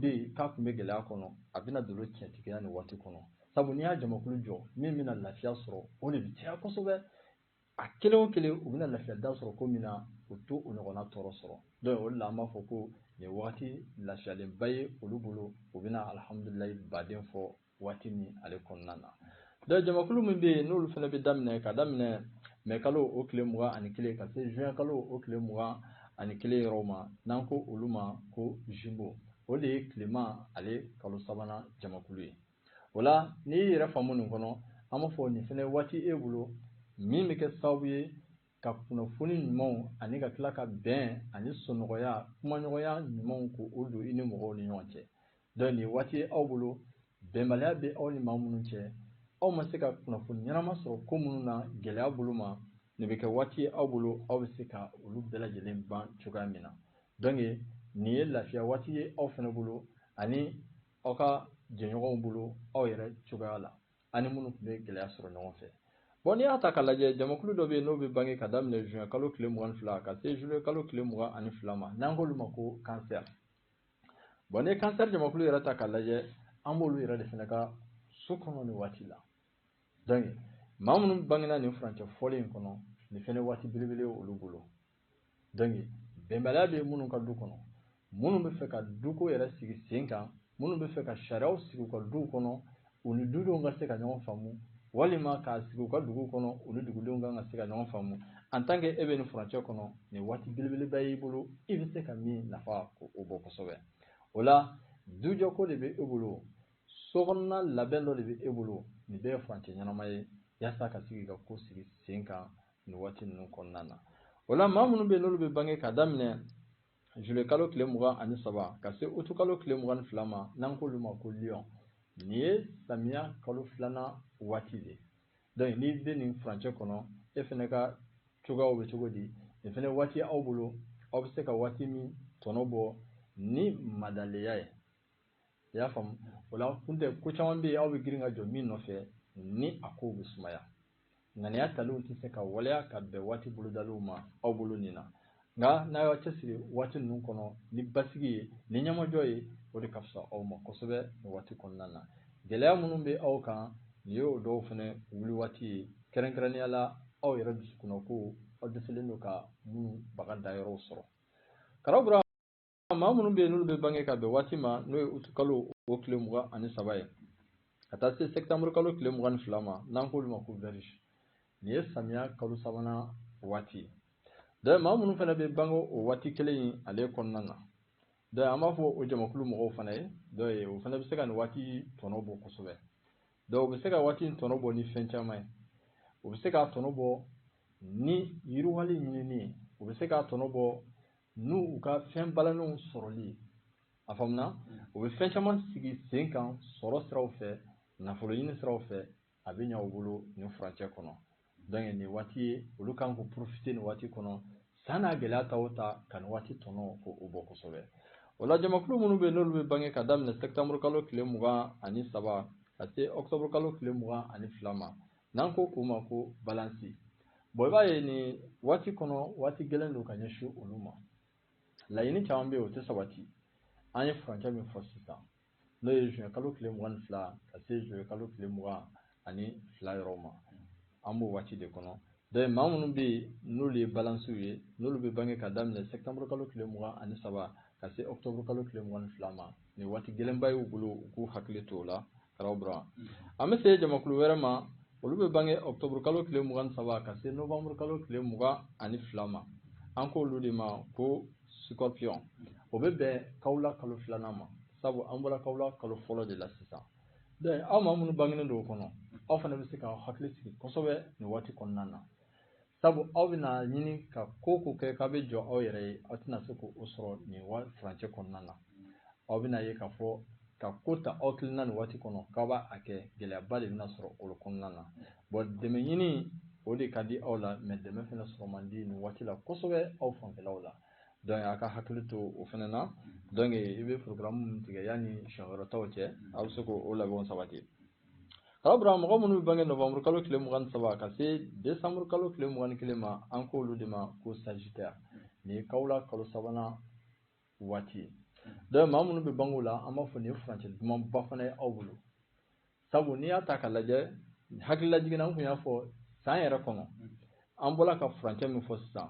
bɛ yen k'a tun bɛ gɛlɛya kɔnɔ a bɛna don tiɲɛtigiya nin waati kɔnɔ sabu n'i y'a jamakulu jɔ min bɛna lafiya sɔrɔ o de bɛ caya kosɛbɛ a kelen o kelen u bɛna lafiya da sɔrɔ ko min na u t'o ɲɔgɔnna tɔɔrɔ sɔrɔ donc o de la an b'a fɔ ko nin waati lafiyalenba ye olu bolo u bɛna alihamudulilayi ba de fɔ waati min ale kɔnɔna na donc jamakulu min bɛ yen n'olu fana bɛ daminɛ ka daminɛ mɛ kalo o tile mugan ani kelen ka se juin kalo o tile mugan ani kelen yɔrɔ ma n'an ko olu ma ko Gémeaux o de ye tilema ale kalo sabanan jamakulu ye o la n'i y'i yɛrɛ faamu nin kɔnɔ an b'a fɔ nin fana waati e bolo min bɛ kɛ sababu ye ka kunnafoni ɲumanw ani ka tila ka bɛn ani sɔnɔgɔya kumaɲɔgɔnya ɲumanw k'o don i ni mɔgɔw ni ɲɔgɔn cɛ Donc nin ye waati ye aw bolo bɛnbaliya bɛ aw ni maa minnu cɛ aw ma se ka kunnafoni ɲɛnama sɔrɔ ko minnu na gɛlɛya bolo ma nin bɛ kɛ waati ye aw bolo aw bɛ se ka olu bɛɛ lajɛlen ban cogoya min na donc nin ye lafiya waati ye aw fana bolo ani aw ka jɛɲɔgɔnw bolo aw yɛrɛ cogoya la ani minnu tun bɛ gɛlɛya sɔrɔ ɲɔgɔn fɛ bɔn n'i y'a ta ka lajɛ jamakulu dɔ bɛ yen n'o bɛ bange ka daminɛ juin kalo tile mugan fila ka se juillet kalo tile mugan ani fila ma n'an k'olu ma ko Cancer bɔn n'i ye kansɛri jamakulu yɛrɛ ta ka lajɛ an b'olu yɛrɛ de fana ka so kɔnɔ nin waati la donc maa minnu bangena nin furancɛ fɔlen in kɔnɔ nin fana waati belebele olu bolo donc bɛnbaliya bɛ minnu ka du kɔnɔ minnu bɛ fɛ ka duko yɛrɛ sigi sen kan minnu bɛ fɛ ka sariyaw sigi u ka duw kɔnɔ u ni dudenw ka se ka ɲɔgɔn faamu walima k'a sigi u ka dugu kɔnɔ u ni dugudenw kan ka se ka ɲɔgɔn faamu en tant que e bɛ nin furancɛ kɔnɔ nin waati belebeleba y'i bolo i bɛ se ka min nafa ko o bɔ kosɛbɛ o la dujɔko de bɛ e bolo sokɔnɔna labɛn dɔ de bɛ e bolo nin bɛɛ ye furancɛ ɲɛnama ye yaasa ka sigi ka ko sigi sen kan nin waati ninnu kɔnɔna na o la maa minnu bɛ yen n'olu bɛ bange ka daminɛ Juillet kalo tile 23 ka se aout kalo tile 22 ma n'an k'olu ma ko Lion nin ye samiya kalo filanan waati de ye donc n'i bɛ nin furancɛ kɔnɔ e fana ka cogoyaw bɛ cogo di nin fana waati aw bolo aw bɛ se ka waati min tɔnɔ bɔ ni madalenya ye i y'a faamu o la kun tɛ ko caman bɛ yen aw bɛ girin ka jɔ min nɔfɛ ni a kow bɛ sumaya ŋaniya talenw tɛ se ka waleya ka bɛn waati bolodaliw ma aw bolo nin na nka n'a y'aw cɛsiri waati ninnu kɔnɔ ni basigi ye ni ɲɛmajɔ ye o de ka fisa aw ma kosɛbɛ nin waati kɔnɔna na gɛlɛya minnu bɛ aw kan nin y'o dɔw fana wuli waati ye kɛrɛnkɛrɛnnenya la aw yɛrɛ dusukunnakow aw dɛsɛlen don ka minnu baga da yɔrɔw sɔrɔ car aw maa minnu bɛ yen n'olu bɛ bange ka bɛn waati ma n'o ye uti kalo o tile mugan ani saba ye ka taa se sɛtanburu kalo tile mugan ni fila ma n'an k'olu ma ko vierge nin ye samiya kalo sabanan waati ye donc maa minnu fana bɛ bange o waati kelen in ale kɔnɔna na donc an b'a fɔ o jamakulu mɔgɔw fana ye dɔn ye o fana bɛ se ka nin waati tɔnɔ bɔ kosɛbɛ donc u bɛ se ka waati in tɔnɔ bɔ ni fɛn caman ye u bɛ se k'a tɔnɔ bɔ ni yiriwali ɲinini ye u bɛ se k'a tɔnɔ bɔ ni u ka fɛn balannenw sɔrɔli ye a faamuya u bɛ fɛn caman sigi sen kan sɔrɔ siraw fɛ nafolo ɲini siraw fɛ a bɛ ɲa u bolo nin furancɛ kɔnɔ donc nin waati ye olu kan ka profiter nin waati kɔnɔ san n'a gɛlɛya ta o ta ka nin waati tɔnɔ k'o bɔ kosɛbɛ o la jamakulu minnu bɛ n'olu bɛ bange ka daminɛ septembre kalo tile mugan ani saba ka se octobre kalo tile mugan ani fila ma N'an ko o ma ko balansi bɔn i b'a ye nin waati kɔnɔ waati gɛlɛn don ka ɲɛsin olu ma laɲini caman bɛ yen o tɛ sabati an ye furancɛ min fɔ sisan n'o ye zuwɛn kalo tile mugan ni fila ka se zuluye kalo tile mugan ani fila yɔrɔ ma an b'o waati de kɔnɔ donc maa minnu bɛ yen n'olu ye balansiw ye n'olu bɛ bange ka daminɛ sɛtanburu kalo tile mugan ani saba ka se ɔkutɔburu kalo tile mugan ni fila ma nin waati gɛlɛnba y'u bolo u k'u hakili to o la Tarawele an bɛ se jamakulu wɛrɛ ma olu bɛ bange ɔkutɔburu kalo tile mugan saba ka se nowanburu kalo tile mugan ani fila ma an k' olu de ma ko scorpion o bɛ bɛn kawula kalo filanan ma sabu an bɔra kawula kalo fɔlɔ de la sisan aw maa minnu bangelen don o kɔnɔ aw fana bɛ se k'aw hakili sigi kosɛbɛ nin waati kɔnɔna na sabu aw bɛna ɲini ka ko o ko kɛ k'a bɛ jɔ aw yɛrɛ ye aw tɛna se k'o sɔrɔ nin furancɛ kɔnɔna na aw bɛna ye k'a fɔ ka ko ta aw kelen na nin waati kɔnɔ k'aw b'a kɛ gɛlɛyaba de bɛna sɔrɔ o kɔnɔna na bɔn dɛmɛ ɲini o de ka di aw la mais dɛmɛ fana sɔrɔ man di nin waati la kosɛbɛ aw fanfɛlaw la donc a k'a hakili to o fana na donc i bɛ programme min tigɛ yanni siɲɛ wɛrɛ taw cɛ aw bɛ se k'o labɛnw sabati Ka bila mɔgɔ minnu bɛ bange nowanburu kalo tile mugan ni saba ka se desanburu kalo tile mugan ni kelen ma an k' olu de ma ko sagittaire nin ye kawula kalo sabanan waati ye donc maa minnu bɛ bange o la an b'a fɔ nin ye furancɛ dumanba fana ye aw bolo sabu n'i y'a ta ka lajɛ hakililajigin na an tun y'a fɔ san yɛrɛ kɔnɔ an bɔra ka furancɛ min fɔ sisan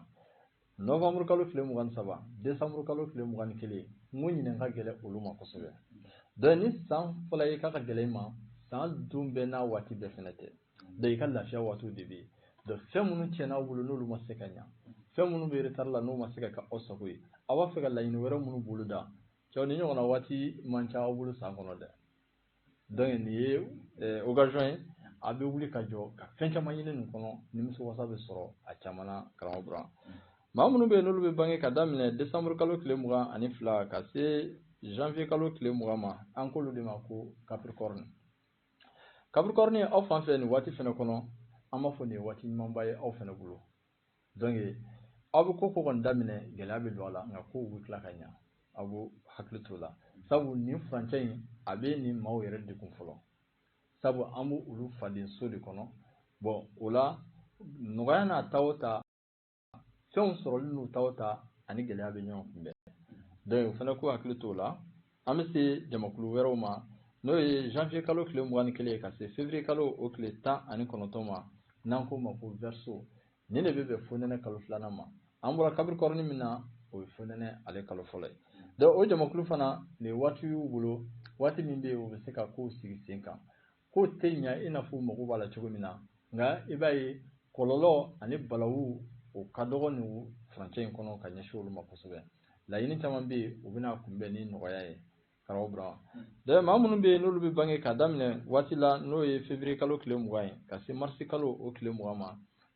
Novembre kalo tile 23 décembre kalo tile 21 n ko ɲinan ka gɛlɛn olu ma kosɛbɛ donc ni san fɔla i ye k'a ka gɛlɛn i ma san don bɛɛ n'a waati bɛɛ fɛnɛ tɛ donc i ka lafiya waatiw de bɛ yen donc fɛn minnu tiɲɛna aw bolo n'olu ma se ka ɲa fɛn minnu bɛ retard la n'o ma se ka kɛ aw sago ye aw b'a fɛ ka laɲini wɛrɛ minnu boloda cɛ nin ɲɔgɔnna waati man ca aw bolo san kɔnɔ dɛ donc nin ye eh, occasion ye a bɛ wuli ka jɔ ka fɛn caman ɲini nin kɔnɔ nimisi wasa bɛ sɔrɔ a caman na karamɔgɔ burama maa minnu bɛ yen n'olu bɛ bange ka daminɛ décembre kalo tile mugan ani fila ka se janvier kalo tile mugan ma an k'olu de ma ko capricorne capricorne aw fan fɛ nin waati fana kɔnɔ an b'a fɔ nin ye waati ɲumanba ye aw fana bolo donc aw bɛ ko ko kɔni daminɛ gɛlɛya bɛ don a la nka kow bɛ tila ka ɲa aw b'aw hakili t'o la sabu nin furancɛ in a bɛ nin maaw yɛrɛ degun fɔlɔ sabu an bɛ olu faden so de kɔnɔ bon o la nɔgɔya n'a ta o ta fɛnw sɔrɔli n'u ta o ta a ni gɛlɛya bɛ ɲɔgɔn kunbɛn donc u fana k'u hakili t'o la an bɛ se jamakulu wɛrɛw ma n'o ye janvier kalo tile mugan ni kelen ye ka se février kalo o tile tan ani kɔnɔntɔn ma n'an k'o ma ko verseau nin de bɛ bɛn fonɛnɛ kalo filanan ma an bɔra capricorne min na o ye fonɛnɛ ale kalo fɔlɔ ye donc o jamakulu fana nin waati y'u bolo waati min bɛ yen u bɛ se ka kow sigi sen kan ko tɛ ɲa i n'a fɔ mago b'a la cogo min na nka i b'a ye kɔlɔlɔ ani balawu o ka dɔgɔ nin furancɛ in kɔnɔ ka ɲɛsin olu ma kosɛbɛ laɲini caman bɛ yen u bɛna kunbɛn ni nɔgɔya ye karamɔgɔ burama donc maa minnu bɛ yen n'olu bɛ bange ka daminɛ waati la n'o ye février kalo tile mugan ye ka se marisi kalo o tile mugan ma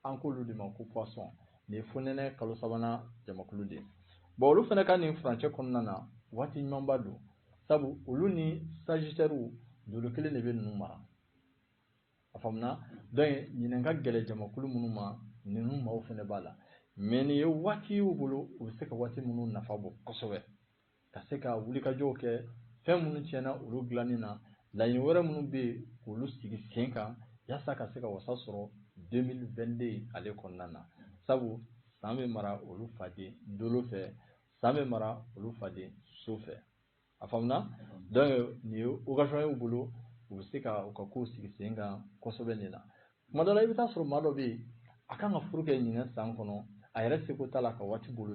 an k'olu de ma ko poisson nin ye fonɛnɛ kalo sabanan jamakulu de ye bon olu fana ka nin furancɛ kɔnɔna na waati ɲumanba don sabu olu ni sajitɛriw dolo kelen de bɛ ninnu mara a faamuna donc ɲinan ka gɛlɛn jamakulu minnu ma ninnu maaw fana b'a la mais nin ye waati y'u bolo u bɛ se ka waati minnu nafa bɔ kosɛbɛ ka se ka wulikajɔw kɛ fɛn minnu tiɲɛna olu dilanni na laɲini wɛrɛ minnu bɛ yen k'olu sigi sen kan yasa ka se ka wasa sɔrɔ 2022 ale kɔnɔna na sabu san bɛ mara olu faden dolo fɛ san bɛ mara olu faden so fɛ a faamuna donc nin ye occasion y'u bolo u bɛ se ka u ka kow sigi sen kan kosɛbɛ nin na kuma dɔ la i bɛ taa sɔrɔ maa dɔ bɛ yen a kan ka furu kɛ ɲinan san kɔnɔ a yɛrɛ seko t'a la ka waati bolo